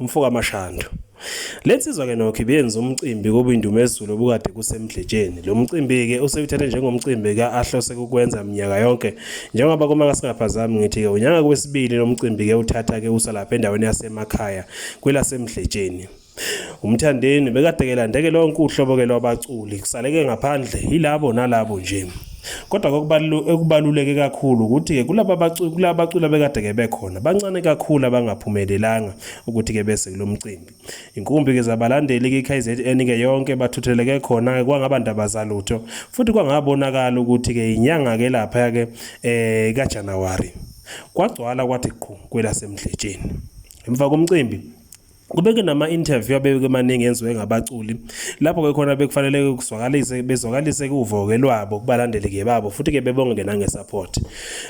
Umfoka Mashando. Le nsizwa ke nokho ibiyenza umcimbi kuba indumezulu obukade kusemdletsheni. Lo mcimbi-ke usewuthathe njengomcimbi ka-ahlose kukwenza minyaka yonke njengoba kuma kasingaphazami ngithi-ke unyaka kwesibili lo mcimbi-ke uthatha-ke usa lapha endaweni yasemakhaya kwelasemdletsheni. Umthandeni bekade-ke landeke lonke uhlobo-ke lwabaculi kusaleke ngaphandle yilabo nalabo nje. Kodwa okubaluleke kakhulu ukuthi-ke kulaba baculi kulaba baculi abekade-ke bekhona bancane kakhulu abangaphumelelanga ukuthi-ke bese kulo mcimbi. Inkumbi-ke zabalandeli-ke i-KZN-ke yonke bathutheleke khona-ke kwangaba ndaba zalutho futhi kwangabonakala ukuthi-ke inyanga-ke laphaya-ke um eh, kaJanuwari. Kwagcwala kwathi qhu kwelasemdletsheni. Emva komcimbi kube ke nama-interview abeke maningi enziwe ngabaculi lapho ke khona bekufanele kuzwakalise bezwakalise kuvo-ke lwabo kubalandeli-ke babo futhi-ke bebonge-ke nange-support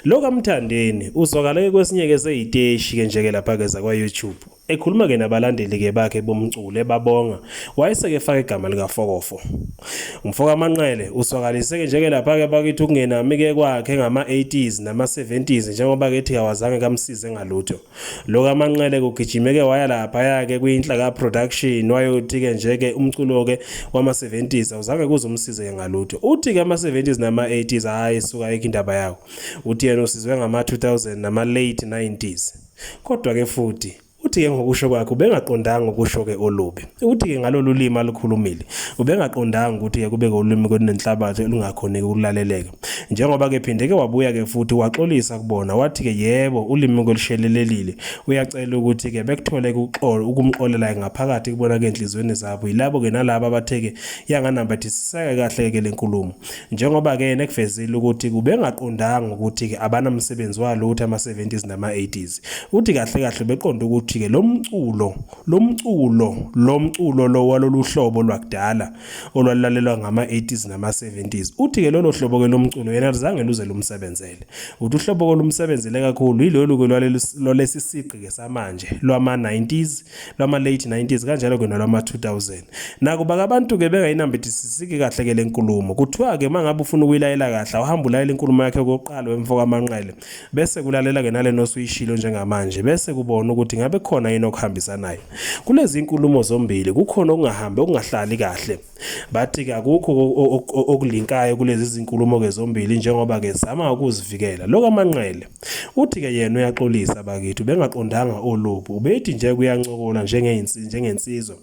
lo kamthandeni uzwakale-ke kwesinye-ke seyiteshi-ke nje-ke lapha-ke zakwa-youtube ekhuluma-ke nabalandeli-ke bakhe bomculo ebabonga wayese-ke efaka igama likafokofo umfoka manqele uzwakalise-ke nje-ke lapha-ke bakithi ukungenami-ke kwakhe ngama-80s nama-70s njengoba-ke ethi kawazange kamsize ngalutho Lo kaManqele kugijimeke waya laphaya-ke kwiNhlaka Production wayothi-ke nje-ke umculo-ke wama-70s awuzange kuze umsize-ke ngalutho. Uthi-ke ama-70s nama-80s hhayi suka ayikho indaba yawo. Uthi yena usizwe ngama-2000 nama-late 90s. Kodwa-ke futhi uthi-ke ngokusho kwakhe ubengaqondanga ukusho-ke olubi. Uthi-ke ngalolu limi alukhulumile ubengaqondanga ukuthi-ke kube-ke ulimi kwenenhlabathi olungakhoneki ukulaleleka. njengoba ke phinde ke wabuya ke futhi waxolisa kubona wathi ke yebo ulimi kolushelelelile uyacela ukuthi ke bekuthole ukuxola ukumxolela ngaphakathi kubona ke enhlizweni zabo yilabo ke nalabo abatheke yanganambathisiseke kahle ke lenkulumo njengoba ke nekuvezile ukuthi kubengaqondanga ukuthi ke abanamsebenzi walo uthi ama 70s nama 80s uthi kahle kahle beqonda ukuthi ke lomculo lomculo lomculo lo walolu hlobo lwakudala olwalulalelwa ngama-80s nama-70s uthi-ke lolo hlobo-ke lomculo yena luzange luze lumsebenzele uthi uhlobo-ke lumsebenzele kakhulu yilolu-ke lwalesi sigqi-ke samanje lwama-90s lwama-late 90s kanjalo-ke nolwama-2000 nakuba ke abantu-ke bengayinambithisisiki kahle-ke le nkulumo kuthiwa-ke uma ngabe ufuna ukuyilayela kahle awuhambe ulayela inkulumo yakhe kokuqala wemfokamanqele bese kulalela-ke nalena osuyishilo njengamanje bese kubona ukuthi ngabe khona yini okuhambisanayo kulezi nkulumo zombili kukhona okungahambi okungahlali kahle bathi-ke akukho okulinkayo kulezi zinkulumo-ke zombili njengoba-ke zama ukuzivikela lo kamanqele uthi-ke yena uyaxolisa bakithi ubengaqondanga olubi ubethi nje kuyancokola njengensizwa